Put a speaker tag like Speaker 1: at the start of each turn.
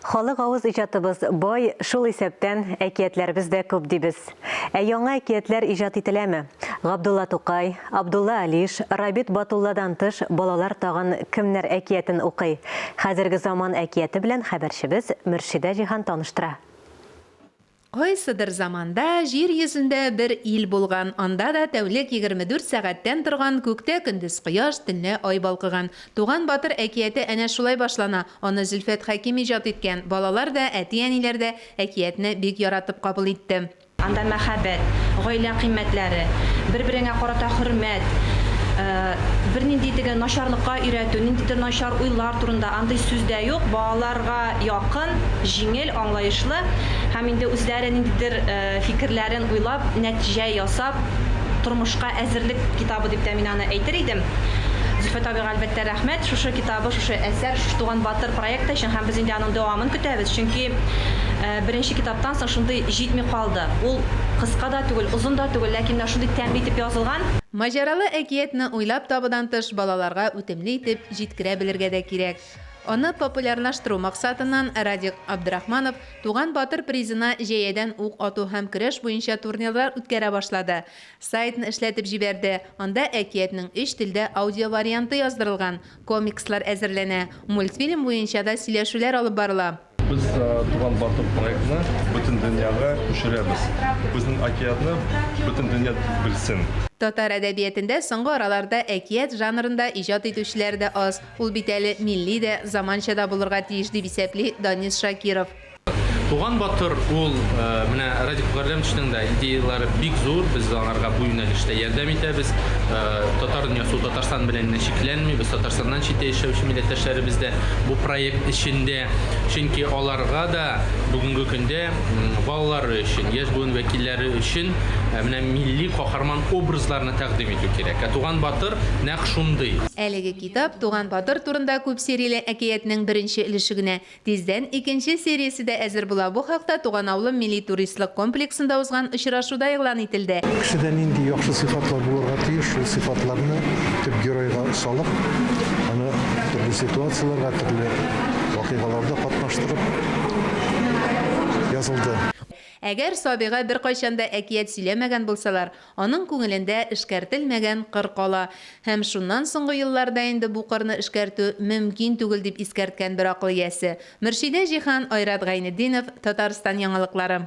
Speaker 1: Халык авыз иҗатыбыз бай, шул исәптән, әкиятләребез дә күп дибез. Ә яңа әкиятләр иҗат ителәме? Габдулла Тукай, Абдулла Алиш, Рабит Батулладан тыш, балалар тагын кемнәр әкиятен укый? Хәзерге заман әкияте белән хәбәрчебез Мөршидә Җиһан таныштыра.
Speaker 2: Кайсыдыр заманда җир йөзендә бер ил булган, анда да тәүлек егерме дүрт сәгатьтән торган, күктә көндез кояш, төнлә ай балкыган. Туган батыр әкияте әнә шулай башлана, аны Зөлфәт Хәким иҗат иткән, балалар да, әти-әниләр дә әкиятне бик яратып кабул итте. Анда мәхәббәт,
Speaker 3: гаилә кыйммәтләре, бер-береңә карата хөрмәт, бернинди теге начарлыкка өйрәтү, ниндидер начар уйлар турында андый сүз дә юк, балаларга якын, җиңел. аңлаешлы һәм инде үзләре ниндидер фикерләрен уйлап, нәтиҗә ясап, тормышка әзерлек китабы дип тә мин аны әйтер идем. Зөлфәт абыйга, әлбәттә, рәхмәт шушы китабы, шушы әсәр, шушы Туган батыр проекты өчен һәм без инде аның дәвамын көтәбез, чөнки беренче китаптан соң шундый җитми калды. Ул кыска да түгел, озын да түгел, ләкин менә шундый тәмле итеп язылган. Маҗаралы
Speaker 2: әкиятне уйлап табудан тыш балаларга үтемле итеп җиткерә белергә дә кирәк. Аны популярнаштыру максатыннан Радик Абдрахманов Туган батыр призына җәядән ук ату һәм көрәш буенча турнирлар үткәрә башлады. Сайтны эшләтеп җибәрде, анда әкиятнең өч телдә аудиоварианты яздырылган, комикслар әзерләнә, мультфильм буенча да сөйләшүләр алып барыла. Без Туган
Speaker 4: батыр проектны бөтен дөньяга күчерәбез. Безнең әкиятне бөтен дөнья белсен. Татар әдәбиятендә
Speaker 2: соңгы араларда әкият жанрында иҗат итүчеләр дә аз. Ул бит әле милли дә, заманча да булырга тиеш, дип исәпли Данис Шакиров. Туган
Speaker 5: батыр ул менә Радик Мөгалләмовичның да идеяләре бик зур, без аңарга бу юнәлештә ярдәм итәбез. Татар дөньясы ул Татарстан белән генә чикләнмибез, Татарстаннан читтә яшәүче милләттәшләребез дә бу проект эчендә, чөнки аларга да бүгенге көндә балалары өчен, яшь буын вәкилләре өчен менә милли каһарман образларны тәкъдим итү кирәк. Ә Туган батыр нәкъ шундый. Әлеге китап
Speaker 2: Туган батыр турында күп серияле әкиятнең беренче өлеше генә, Тиздән икенче сериясе дә әзер була. Бу хакта Туган авылым милли туристлык комплексында узган очрашуда игълан ителде. Кешедә нинди яхшы
Speaker 6: сыйфатлар булырга тиеш, шул сыйфатларны төп геройга салып, аны төрле ситуацияләргә, төрле вакыйгаларда катнаштырып язылды. Әгәр
Speaker 2: Сабига беркайчан да әкият сөйләмәгән булсалар, Аның күңелендә эшкәртелмәгән кыр кала. Һәм шуннан соңгы елларда инде бу кырны эшкәртү мөмкин түгел, дип искәрткән бер акыл иясе. Мөршидә Җиһан, Айрат Гайнетдинов, Татарстан яңалыклары.